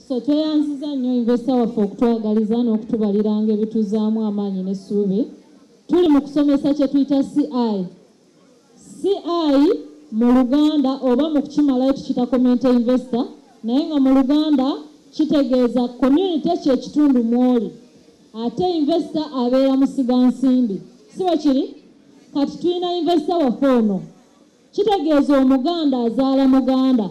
So tweyanziza nnyo investa waffe okutwagaliza n'okutubaliranga ebituzaamu amaanyi n'essuubi. Tuli mu kusomesa kye tuyita CI. CI mu Luganda oba mu kukimalayo tukita comment investor naye nga mu Luganda kitegeeza community kye kitundu mwoli. Ate investor abeera musiga nsimbi. Si bwe kiri? Kati tulina investor waffe ono. Kitegeeza Omuganda azaala Muganda,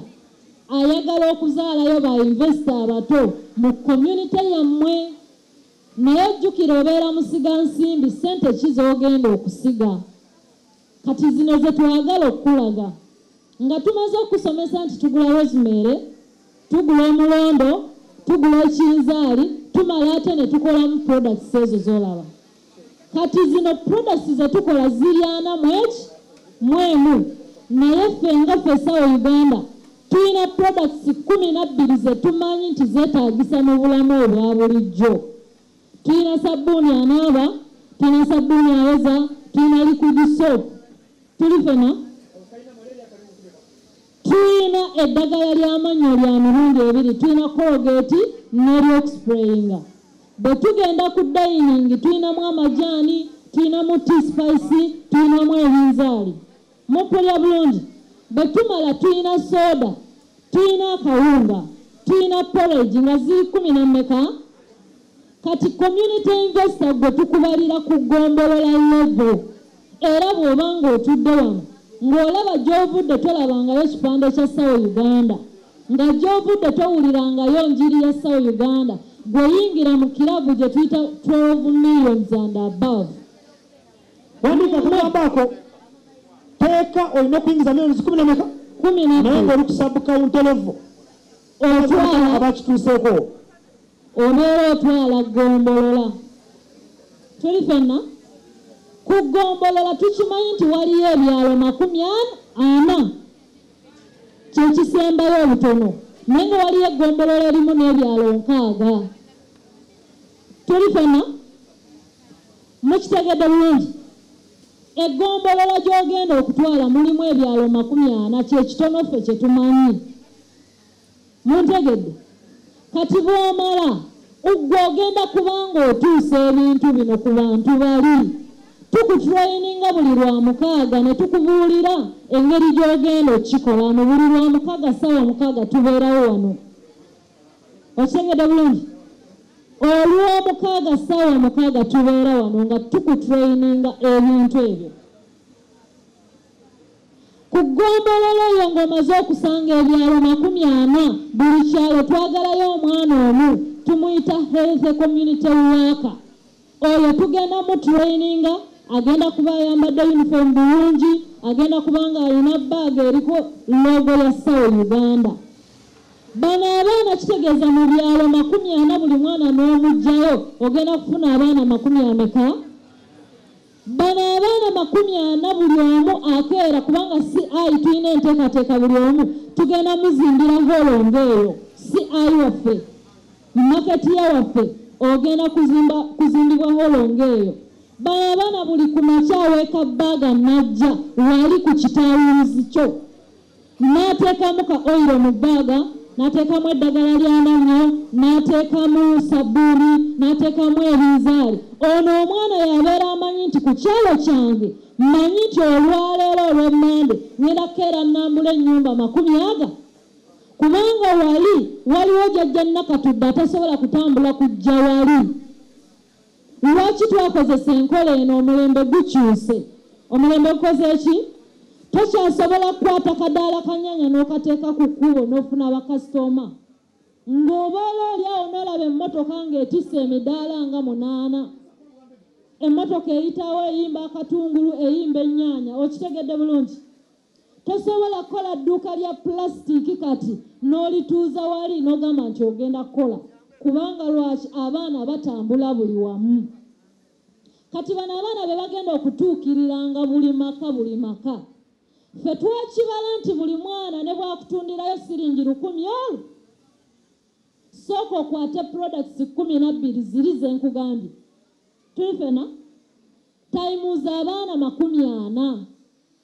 ayagala okuzaalayo ba investor abato mu community yammwe. Naye jjukira obeera musiga nsimbi, ssente ki z'ogenda okusiga? Kati zino ze twagala okukulaga. Nga tumaze okukusomesa nti tugula rosemary, tugula omulondo, tugula ekinzaali, tumala ate ne tukolamu products ezo z'olaba. kati zino products zetukola ziryana mweki mwemu naye ffe nga fesawo uganda tulina products kumi nabbiri zetumanyi nti zetagisa mu bulamu obwa bulijjo tulina sabbuuni anaaba tulina sabbuuni ayoza tulina liquid soap tuli fena Tuyina eddagala lya mannyo lya mirundi ebiri, tuyina Colgate n'eryokusprayinga. Bwe tugenda ku dayiningi tuyinamu amajaani, tuyinamu tea spice, tuyinamu ebinzaali. Mumpulira bulungi? Bwe tumala tuyina sooda, tuyina akawunga, tuyina porridge nga ziri kkumi na mmeka? Kati community investor gwe tukubalira ku gombolola level era bwoba ng'otudde wano ng'olaba gy'ovudde tolabangayo kipande kya sawo uganda nga gy'ovudde towulirangayo njiri ya sawo uganda gwe yingira mu kirabu gye tuyita 12 millions and above wandika kumabaako teeka olina okuyingiza millions kumi nameka kumi naye ng'oli kusabukawunterevu otwala abakituuseeko Obeera otwala ggombolola. Tuli ffenna ku ggombolola tukimanyi nti waliyo ebyalo makumi ana, kye kisembayo obutono, naye nga waliyo eggombolola erimu n'ebyalo nkaaga. Tuli ffenna? Mukitegedde bulungi? Eggombolola gy'ogenda okutwala mulimu ebyalo makumi ana, kye kitono ffe kye tumanyi. Muntegedde? Kati bw'omala, ggwe ogenda kuba ng'otuusa ebintu bino ku bantu bali. Tukutrayininga buli Lwamukaaga ne tukubuulira engeri gy'ogenda okukikolamu. Buli Lwamukaaga ssaawa mukaaga tubeerawo wano. Okitegedde bulungi? Olwomukaaga ssaawa mukaaga tubeera wano nga tukutrayininga ebintu ebyo. Ku ggombolola eyo ng'omaze okusanga ebyalo makumi ana, buli kyalo twagalayo omwana omu tumuyita Healthy Community Worker. Oyo tugenda mu traininga, agenda kuba ayambadde yunifoomu bulungi, agenda kuba ng'alina bbaaga eriko loogo ya SAO Uganda. Bano abaana kitegeeza mu byalo makumi ana buli mwana n'omuggyayo ogenda kufuna abaana makumi ameka? Bano abaana makumi ana buli omu akeera kubanga CI tulina enteekateeka buli omu tugenda muzimbira holo ng'eyo CI waffe maketiya waffe ogenda kuzimbibwa holo ng'eyo bano abaana buli ku makya aweeka bbaaga najja wali ku kitawuuzi kyo N'ateekamu ka oyiro mu bbaaga, n'ateekamu eddagala ly'amannyo, n'ateekamu sabbuuni, n'ateekamu ebinzaali. Ono omwana y'abeera amanyi nti ku kyalo kyange mmanyi nti olwaleero olwa Mmande ng'enda kukeera nnambula ennyumba makumi aga kubanga wali waliwo Jajja Nakatudde atasobola kutambula kujja wali. Lwaki twakozesa enkola eno? Omulembe gukyuse. Omulembe gukoze ki? Tokyasobola kukwata kadaala ka nnyanya n'okateeka ku kkubo n'ofuna bakasitooma. Ng'obeera oli awo n'olaba emmotoka ng'etisse emidaala nga munaana. Emmotoka eyitawo eyimba akatungulu, eyimba ennyaanya. Okitegedde bulungi? Tosobola kukola dduuka lya pulasitiiki kati n'olituuza wali n'ogamba nti ogenda kukola kubanga lwaki abaana batambula buli wamu kati bano abaana be bagenda okutuukiriranga buli maka buli maka ffe twakibala nti buli mwana ne bwakutundirayo siringi lukumi olwo sooka okwate products kumi nabbiri ziri ze nkugambye tuli fena tayimuuza abaana makumi ana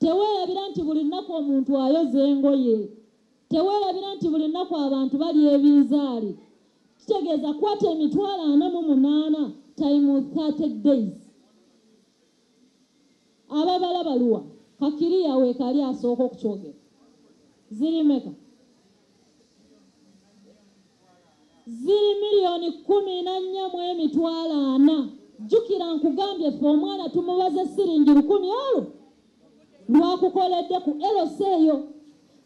Teweerabira nti buli lunaku omuntu ayoza engoye. Teweerabira nti buli lunaku abantu balya ebinzaali. Kitegeeza kwata emitwalo ana mu munaana time 30 days. Ababala baluwa? Kakiriya weekali asooka okukyogera. Ziri meka? ziri miliyoni kkumi na nnya mu emitwalo ana jjukira nkugambye ffe omwana tumubaze siringi lukumi olwo lwakukoledde ku lc eyo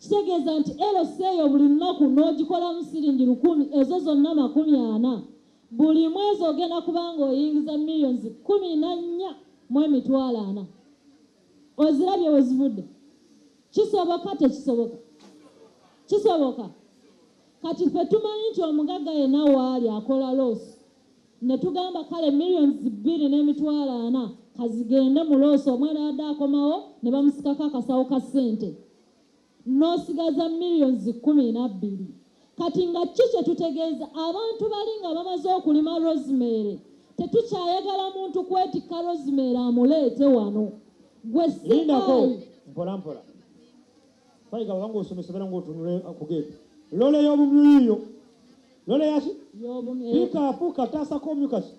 kitegeeza nti lc eyo buli lunaku n'ogikolamu siringi lukumi ezo zonna makumi ana buli mwezi ogenda kubanga oyingiza miliyoni kkumi na nnya mu emitwalo ana Ozirabye wezivudde? Kisoboka tekisoboka? Kisoboka. Kati ffe tumanyi nti omugagga yenna waali akola loosi ne tugamba kale millions bbiri n'emitwalo ana kazigende mu loosi omwana yadde akomawo ne bamusikako akasawo ka ssente nosigaza millions kumi nabbiri kati nga ki kyetutegeeza abantu bali nga bamaze okulima rosemary tetukyayagala muntu kwetikka rosemary amuleete wano gwe sindako mpola mpola fayiga wabanga osomesa bera ngaotunule kugeeti lola eyobumyiyo lola yaki pikapu kataasako omukasi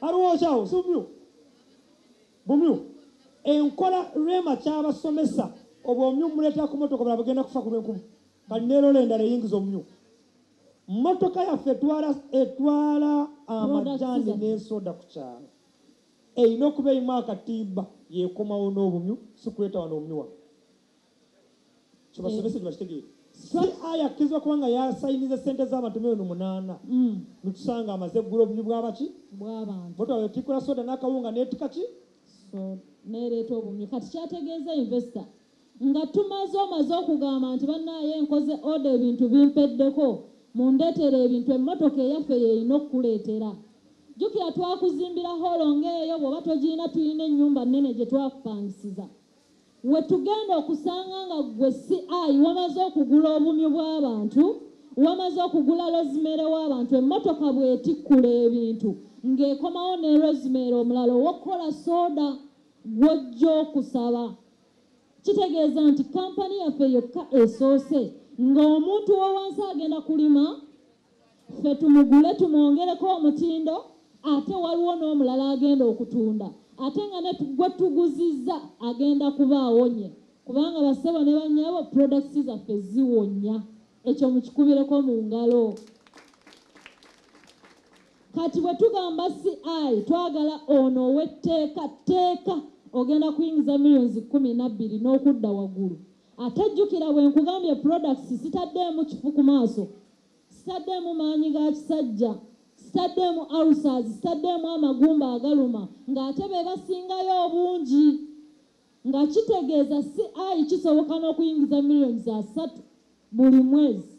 aliwo okyawo simumyu Bumyu, Enkola Rema ky'abasomesa obwomyu mumuleetera ku mmotoka obulala bugenda kufa ku lw'enkuba kati ne Lola endala eyingiza omumyu. Mmotoka yaffe etwala etwala amajaani n'ensoda ku kyalo erina okuba erimu akatimba y'ekomawo n'obumyu si kuleeta wano obumyu wano. kibasomese kibakitegeere si aya akkirizibwa kubanga yasayiniza sente z'abantu milioni munaana mm. netusanga amaze eggula obubi bwabaki bwabantubotwatikula soda n'akawunga netika ki nereeta obumyu kati kyategeeza investo nga tumaze omaze okugamba nti banaye nkoze oda ebintu bimpeddeko mundeetera ebintu emmotoka eyaffe yeerina okukuleetera jjukira twakuzimbira holo ng'eyo bw'oba togirina tulina ennyumba nnene gye twakupangisiza Wetugenda okusanga nga gwe CI wamaze okugula obumyu bwabantu, wamaze okugula Rosemary wabantu, emmotoka bwetikkula ebintu nga ekomawo ne Rosemary omulala owokukola soda gwojja okusaba. Kitegeeza nti company yaffe yokka esoose nga omuntu wowansi agenda kulima. Ffe tumugule tumwongereko omutindo ate waliwo n'omulala agenda okutunda ate nga ne gwe tuguzizza agenda kuba awonye kubanga bassebo ne bannyabo products zaffe ziwonya ekyo mukikubireko mu ngalo. Kati bwe tugamba CI twagala ono ow'etteeka tteeka ogenda kuyingiza millions kkumi na bbiri n'okudda waggulu Ate jjukira bwe nkugambye products sitaddeemu kifu ku maaso, sitaddeemu maanyi ga kisajja, sitaddeemu ulcers, sitaddeemu amagumba agaluma ng'ate be basingayo obungi nga kitegeeza CI kisoboka n'okuyingiza millions za ssatu buli mwezi.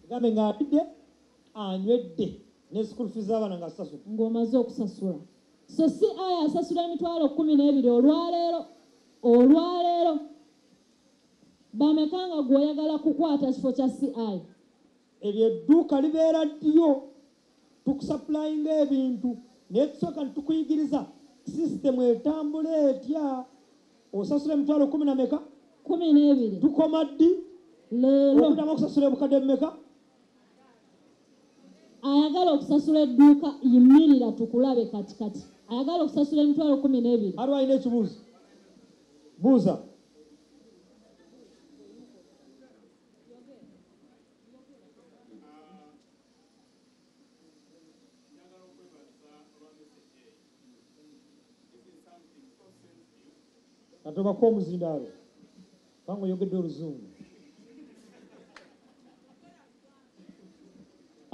Gambe ng'alidde anywedde ne school fees z'abaana nga sasula. Ng'omaze okusasula. So CI asasula emitwalo kkumi n'ebiri olwaleero. Olwaleero bameka nga gwe oyagala kukwata kifo kya CI? Eryo edduuka libeera ddiyo tukusapulayinga ebintu naye tusooka netukuyigiriza sisitemu etambula etya osasula emitwalo kumi na meka kumi n'ebiri tukoma ddi leero okuddamu okusasula ebukadde bumeka ayagala okusasula edduuka yimirira tukulabe kati kati ayagala okusasula emitwalo kumi n'ebiri aliwo alina ekibuuzo buuza katobako omuzindaalo Kubanga oyogedde oluzungu.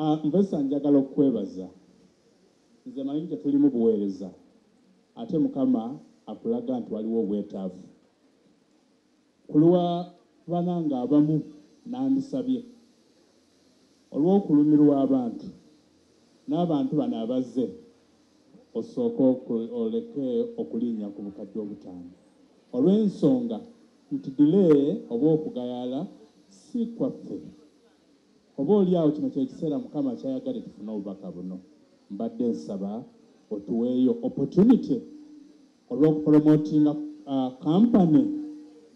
Ah, Mvesa njagala okukwebaza nze manyi tetulimu buweereza ate mukama akulaga nti waliwo obwetaavu kulwa bananga abamu nandisabye olw'okulumirwa abantu n'abantu bano abazze osooke oleke okulinnya ku bukadde obutaano olw'ensonga nti delay oba okugayaala si kwaffe. Oba oli awo kino ky'ekiseera Mukama ky'ayagadde tufune obubaka buno. Mbadde nsaba otuweeyo opportunity. olw'okupromotinga company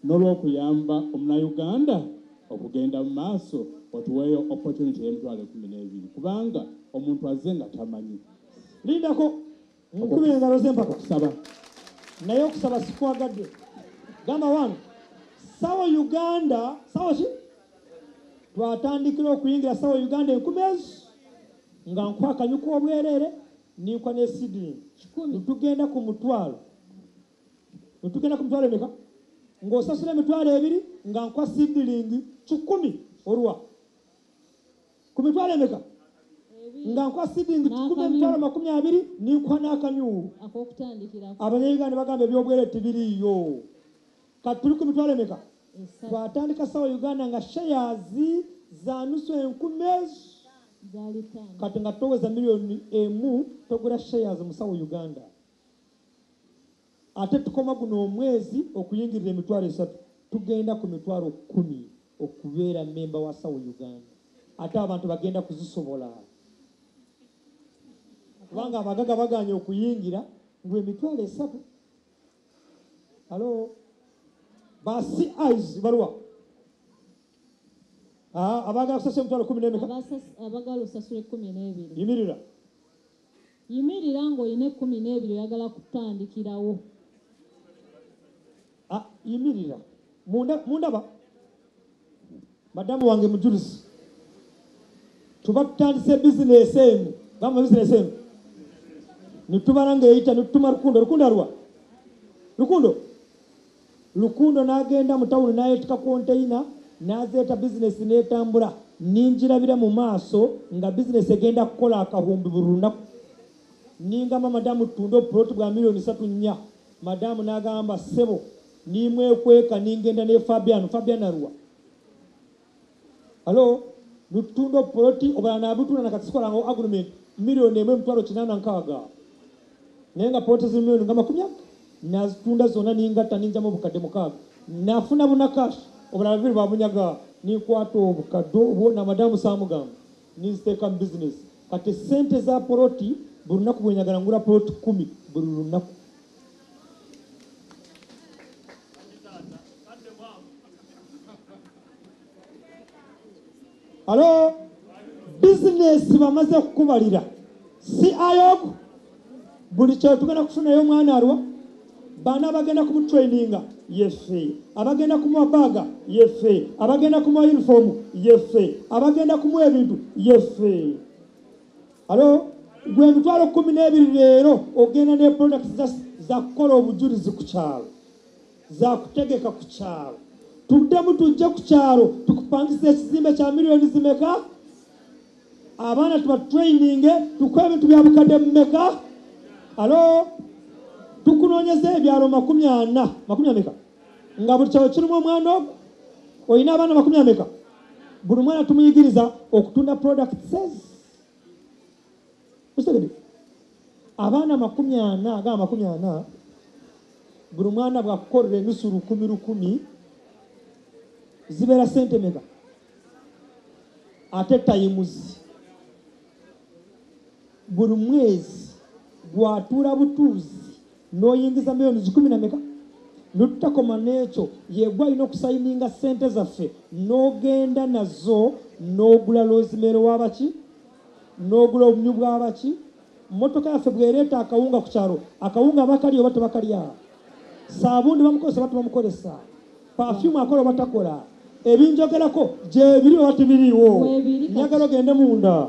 n'olw'okuyamba omunayuganda okugenda mu maaso otuweeyo opportunity y'emitwalo ekumi n'ebiri kubanga omuntu azze nga tamanyi lindako mukube engalo z'empaka okusaba naye okusaba sikwagadde gamba wange sawa uganda sawa ki twatandikira okuyingira sawa uganda enkumeezi nga nkwakanyuka obwereere Nninkwa ne seedling kikumi. Tugenda ku mutwalo. Tugenda ku mitwalo emeka? Ng'osasula emitwalo ebiri nga nkwa seedling kikumi olwa ku mitwalo emeka? nga nkwa seedling kikumi emitwalo amakumi abiri ninkwa n'akamyu abanyayuganda bagamba ebyobwere tibiriiyo kati tuli ku mitwalo emeka twatandika sawa uganda nga shares za nusu enkumi ezo Kati nga toweza million emu togula shares musawo Uganda ate tukoma guno omwezi okuyingirira emitwalo esatu tugenda ku mitwalo kumi okubeera memba wa sawo Uganda ate abantu bagenda kuzisobola kubanga abagaga baganye okuyingira ngwe emitwalo esatu alo ba CIs balwa Ah, abagala kusasula emitwalo kumi n'emeka abagala osasula ekkumi n'ebiri yimirira yimirira ng'olina ekkumi n'ebiri oyagala kutandikirawo ah, yimirira mundaba madamu wange mujulizi tuba tutandise bizinesi emu gamba bizinesi emu nitubala ng'eyita nitutuma rukundo rukundo alwa rukundo Rukundo n'agenda mu tawuni n'ayeetikka konteyina n'azeeta bizinensi n'etambula. Ningirabira mu maaso nga bizinensi egenda kukola akahumbi buli lunaku. Ningamba Madaamu tutunde obupuloti bwa miriyoni ssatu nnya. Madaamu n'agamba, Ssebo, nimwekweka ningenda ne Fabiano. Fabiano aluwa? Alo lutunda obupoloti obulala nabutunda na kati sikola nga agreement million emu emitwalo kinaana nkaaga naye nga poloti ziri million nga makumi aga nazitunda zonna ningatta ninjamu obukadde mukaaga nafuna buna cash obulala bibiri babunyaga ninkwata obukadde obwo na madamu samugamba ninziteeka mu business kati sente za poloti buli lunaku bwenyagala ngula poloti kumi buli lunaku alo bizinesi bamaze kukubalira si ayoku buli kyetugenda kufunayo omwana alwa baana abagenda kumutraininga yefe abagenda kumuwa baaga yefe abagenda kumuwa yunifoomu yefe abagenda kumuwa ebintu yefe alo gwe emitwalo kumi n'ebiri leero ogenda ne products za zakukola obujulizi ku kyalo zakutegeka ku kyalo tuddemu tujje ku kyalo tukupangisa ekizimbe kya miliyoni zimeka abaana tubatraininge tukuwa ebintu bya bukadde mumeka alo tukunoonyeza ebyalo makumi ana makumi ameka nga buli kyalo kirimu omwana ogwo olina abaana makumi ameka buli mwana tumuyigiriza okutunda products Museveni abaana amakumi ana aga amakumi ana buli mwana bwakukolera enusu lukumi lukumi zibeera sente mega ate tayimuzi buli mwezi gwatuula butuuzi noyingiza millions kikumi na meka notutakoma nekyo yegwa alina okusayininga sente zaffe nogenda nazo nogula lozimeero wabaki nogula obumyu bwabaki motoka yaffe bwereeta akawunga ku kyalo akawunga bakali oba tebakalya saabundi bamukozesa oba tebamukozesa pafyumu akola oba takola ebinjogerako gyebiri oba tebiriiwo njagala ogende munda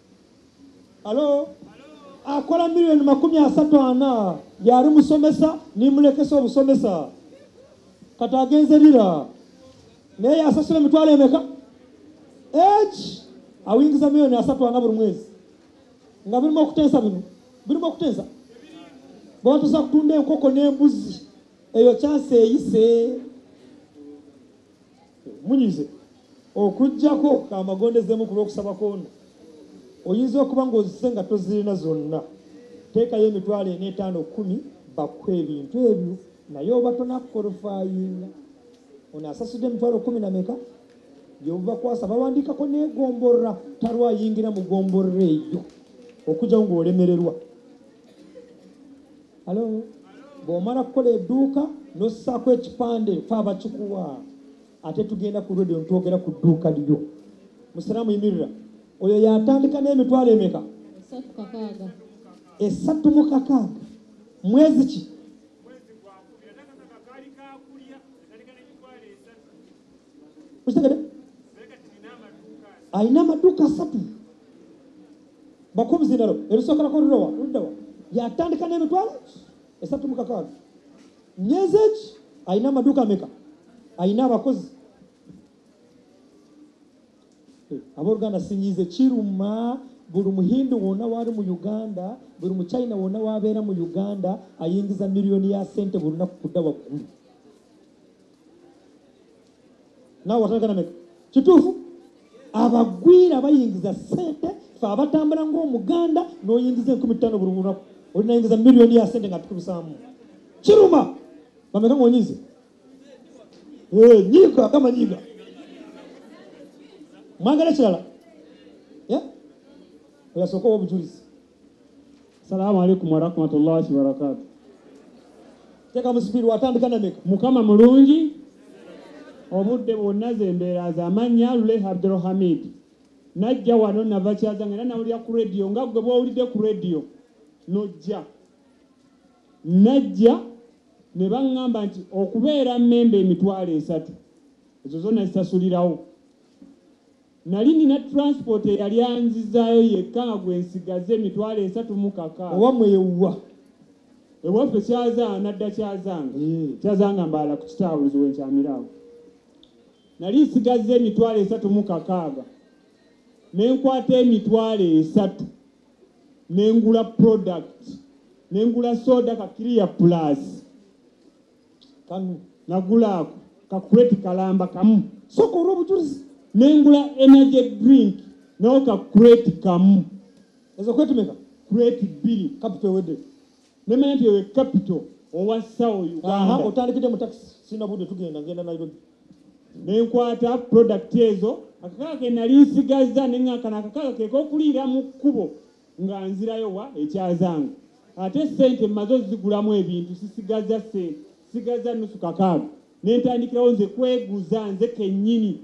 Halo? Akola milioni makumi asatu ana yali musomesa nimulekesa obusomesa kati agenze lira naye yasasula emitwalo emeka eki awingiza milioni asatu ana buli mwezi nga birimu okutensa bino birimu okutensa bwatusa kutunda enkoko n'embuzi eyo kyansi eyise Munyize, okuggyako ka magondezemu ku lw'okusaba kw'ono, oyinza okuba ng'ozise nga tozirina zonna. Teekayo emitwalo ena, etaano, kkumi, bakuwe ebintu ebyo naye oba tonakkolofayinga. Ono asasudde emitwalo kkumi na meka? Yehova kwasa bawandiikako n'egomborra talwayingira mu gomborra eyo okujjawo ng'olemererwa. Hello. Bw'omala kukola edduuka n'ossaako ekipande fe abakikuwa ate tugenda ku radio ntwogera ku dduuka lyo musiraamu yimirira oyo yatandika n'emitwalo emeka esatu mu kakaaga mwezi ki okitegede alina amaduuka asatu bakumuzindalo erusokerako lulowa ludawa yatandika n'emitwalo esatu mukakaaga myezi eki alina amaduuka meka alina abakozi eh, aboluganda sinyize kiruma buli muhindu wona wali mu uganda buli muchina wona wabeera mu uganda ayingiza miliyoni ya sente buli lunaku kudda waggulu naawe watandika nameka kituufu abagwira bayingiza sente fe abatambula ngaomuganda noyingiza enkumi ttaano buli lunaku olinayingiza miliyoni ya sente nga tukulusaamu kiruma bameka ngaonyize eh, nyiga gamba nyiga mwagala kirala oyasooka owa obujulizi Salaamu alaikum warahmatullahi wabarakatu. Teka musipiri watandika na meka. Mukama mulungi obudde bwonna zembeera za mannya Lule Abdulhamid. Najja wano nava kyazanga era nawulira ku radio nga gwe bwowulidde ku radio nojja. Najja ne baŋŋamba nti okubeera mmemba emitwalo esatu ezo zonna zisasulirawo. Nnali nnina transport eyali anzizaayo yekka nga gwe nsigaze emitwalo esatu mu kaka. Owammwe ye wa? Ewaffe Kyazanga, nadda Kyazanga. Eeh. Kyazanga Mbaala ku Kitaabuzi we nkyamira awo. Nnali nsigazza emitwalo esatu mu kakaaga ne nkwata emitwalo esatu ne ngula product ne ngula soda ka clear plus. kano nagula ako kakureti kalamba kamu soka olwobujulizi nengula energy drink nawo kakureti kamu ezo kwetumeka kureti bbiri kapito ewedde nemanya nti ewe kapito owa sawo uganda otandikidde mu takisi sina budde tugenda ngenda nairobi nenkwata product ezo akakaka kenali nsigazza neŋakana akakaka kekokuliira mu kkubo Nga nzirayo wa? E Kyazanga. Ate ssente mmaze ozigulamu ebintu, sisigazza ssente, sisigazza nnusu kakaaga. Ne ntandikirawo nze kweguza nze kennyini.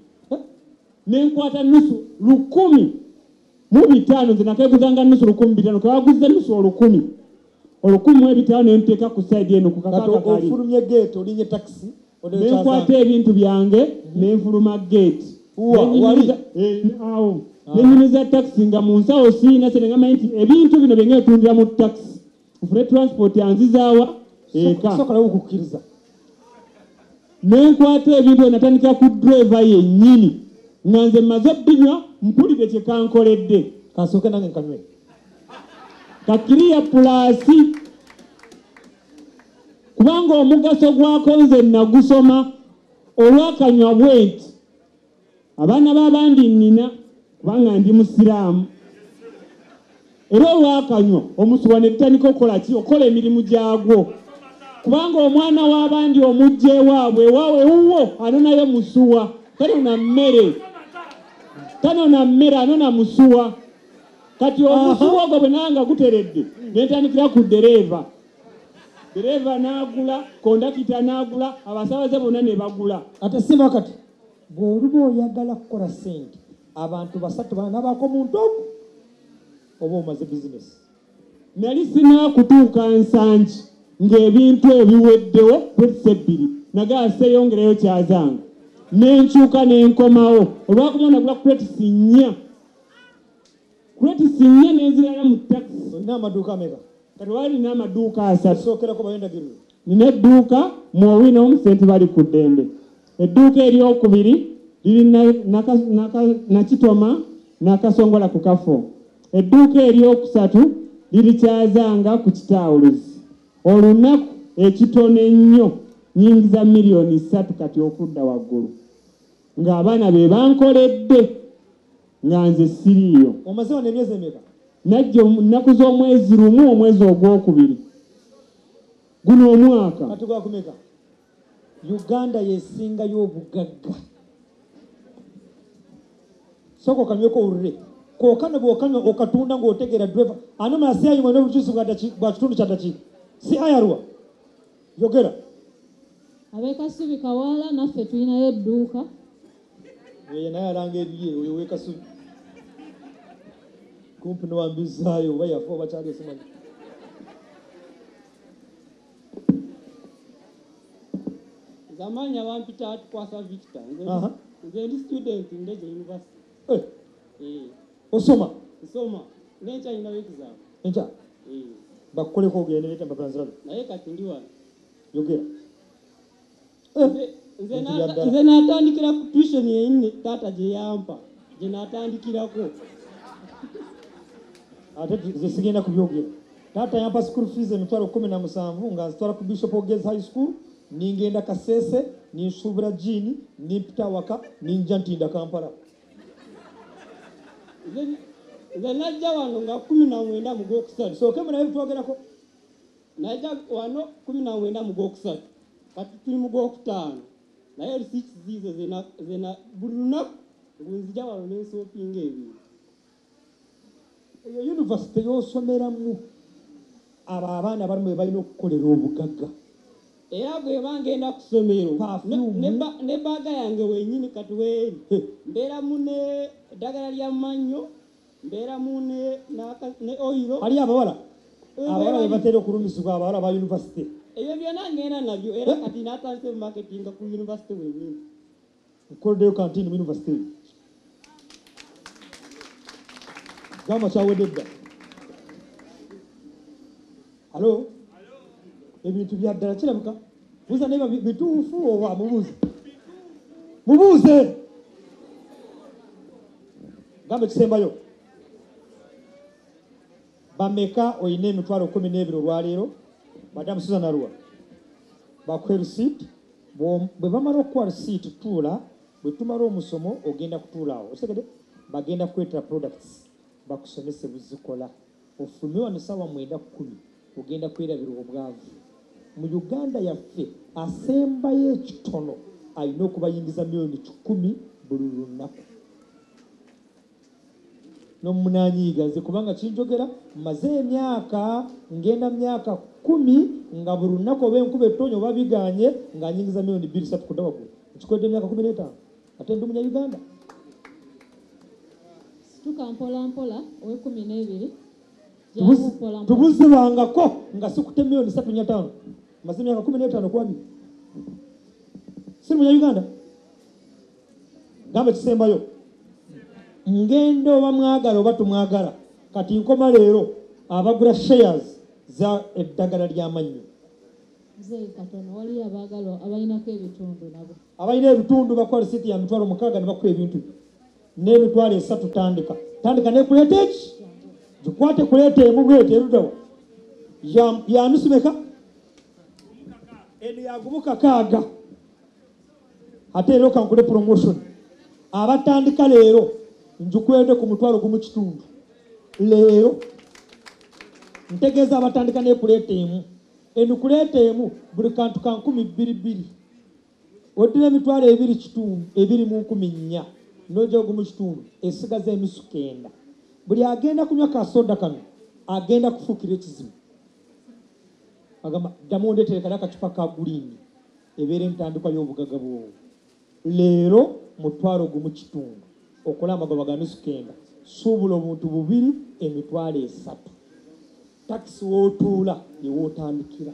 Ne nkwata nnusu lukumi mu bitaano. Nze nakeeguzanga nnusu lukumi mu bitaano, ke baguzza nnusu olukumi. olukumi mu ebitaano ne nteeka ku sayidi eno ku kakaga kati kali ofulumye geeti olinye takisi ne odekyaza nkwata ebintu byange ne nfuluma geeti Wa- Ne wali? nyumiza- eh, awo ne nyumiza takisi nga mu nsawo siyina sente nga manyi nti ebintu bino bye ngetundira mu takisi nfune transport anzizaawa eka soka nawe okukkiriza nenkwata ebintu byo natandika ku driva yennyini nga nze mmaze binywa mpulire kye kankoledde kasooke nange nkanywe kakiriya pulaasi kubanga omugaso gwako nze nagusoma olwakanywa bwenti abaana b'abandi nnina kubanga ndi musiraamu era olwakanywa omusuwa ne gutandika okukola ki okukola emirimu gyagwo kubanga omwana w'abandi omujja ewaabwe ewaabwe wuwo anonayo musuwa tanona mmere tanona mmere anona musuwa kati omusuwa ogwo bwe nanga guteredde ne ntandikira ku ddereeva ddereeva n'agula kondakita n'agula abasaabaze bonna ne bagula ate siba kati Bw'oba oyagala kukola ssente abantu basatu banabaako mu ntooko oba omaze bizinesi. Nali sinaakutuuka Nsangi ng'ebintu ebiweddewo puts ebbiri nagaa seeyongerayo kyazanga ne nkyuka ne nkomawo olwakuba nagula crates nnya. Crates nnya n'ezirala mu takisi. Olina amaduuka ameka? Kati wali nina amaduuka asatu. Sookerako bayo endagiriro. Nina edduuka mu Owino mu Ssenti Bali ku ddembe. Edduuka eryokubiri liri Nakitoma Nakasongola ku kafo. Edduuka eryokusatu liri Kyazanga ku kitaawuluzi. Olunaku ekitono ennyo nyingiza miliyoni ssatu kati okudda waggulu ng'abaana be bankoledde. nga nze siriiyo omaze wano emyezi emeka najja ennaku z'omwezi lumu omwezi ogwokubiri guno omwaka kati gwakumeka uganda yesingayo obugagga sooka okanyweko olule kokano bwokanywa okatunda ng'otegeera driver ani omala si ayimwe n'obujuzi bwa kitundu kya dakiika si ayarwa yogera abekasubi kawaala naffe tulinayo edduuka Eh, naye alanga ebiye oyo wekasubi kumpi niwambizaayo oba yafa oba kyali esimanyi zamanya bampita tukwasa victor nze ndi student ndeze university eh. Eh. osoma nsoma nenkya nyinawo exam enkya bakukoleko ogende netambapanzirabe naye kati ndi wano yogera nze natandikira ku tuition yeyinne taata gyeyampa gye natandikirako ate ze sigenda kubyogera taata yampa school fees emitwalo kumi na musanvu nga nzitwala ku bishop ogez high school ningenda kasese ninsuubira jiini nimpita waka ninja ntinda kampala nze najja wano nga kumi na mwenda mugwokusatu sooke mulabe bitwogerako Naija wano kumi na mwenda mu gwokusatu kati tuli mu gwokutaano naye receipts ziizo zena zena buli lunaku ngunzija wano nensopinga ebintu eyo yunivasite yosomeramu abo abaana bali mwe balina okukolera obugagga era bweba ngenda ku ssomero ne baaga yange wenyini kati weeri mbeera mu ne eddagala lya mannyo mbeeramu ne naka- ne oyiro waliyo abawala abawala bebatera okulumizibwa abawala ba yunivasite ebyo byonna ngenda nabyo era kati natandise marketinga ku yunivasite wenyini nkoleddeyo kantini mu yunivasite eyo gamba kyawedde dda alo ebintu bya ddala kirabika buuza naye babi- bituufu oba mubuuze mubuuze gamba ekisembayo bameka olina emitwalo kumi n'ebiri olwaleero madamu susan arua bakuhe receipt bwe bamala okukuwa receipt tuula bwe tumala omusomo ogenda kutuulaawo osegede bagenda kukwetera products bakusomese buzikola Ofume wano sawa mwenda kumi ogenda kwerabira obwavu mu Uganda yaffe. Asembayo ekitono alina okubayingiza million kikumi buli lunaku. Nomunanyiiga nze kubanga kinjogera maze emyaka ngenda myaka kumi nga buli lunaku oba enkuba ettonya oba biganye nga anyingiza million bbiri satu kuda wagulu. Nkikodde emyaka kumi netaano. Ate ndi munya Uganda. Situka mpola mpola owe kumi n'ebiri tubuzibangako nga sikute milioni satu nya tano maze myaka kumi n'etaano kuba biri siri munya uganda gamba ekisembayo ngenda oba mwagala oba tumwagala kati nkoma leero abagula shares za eddagala ly'amannyo mzee katono waliyo abaagalwa abalinako ebitundu nabo abalina ebitundu bakuwa lisiti ya mitwalo mukaaga ne bakuwa ebintu n'emitwalo esatu tandika tandika nekuleeta eki gikwate kuleeta emu bwete erudawa yanusimeka eno yagumu kakaaga ate leero kankule promotion abatandika leero njukwede ku mutwalo gumu kitundu leero ntegeeza abatandika nekuleeta emu enu kuleeta emu buli kantu kankumi bbiri bbiri oddira emitwalo ebiri kitundu ebiri mu nkumi nnya n'oja ogumu kitundu esigaza enusu kenda buli agenda kunywa kasoda kano agenda kufuukira ekizibu agamba ddamu ondetere kali akacupa ka guliini ebeera entandikwa y'obugaga bwowo leero mutwalo ogumu kitundu okola amagoba ga nusu kenda suubula obuntu bubiri emitwalo esatu takisi wootuula yewootandikira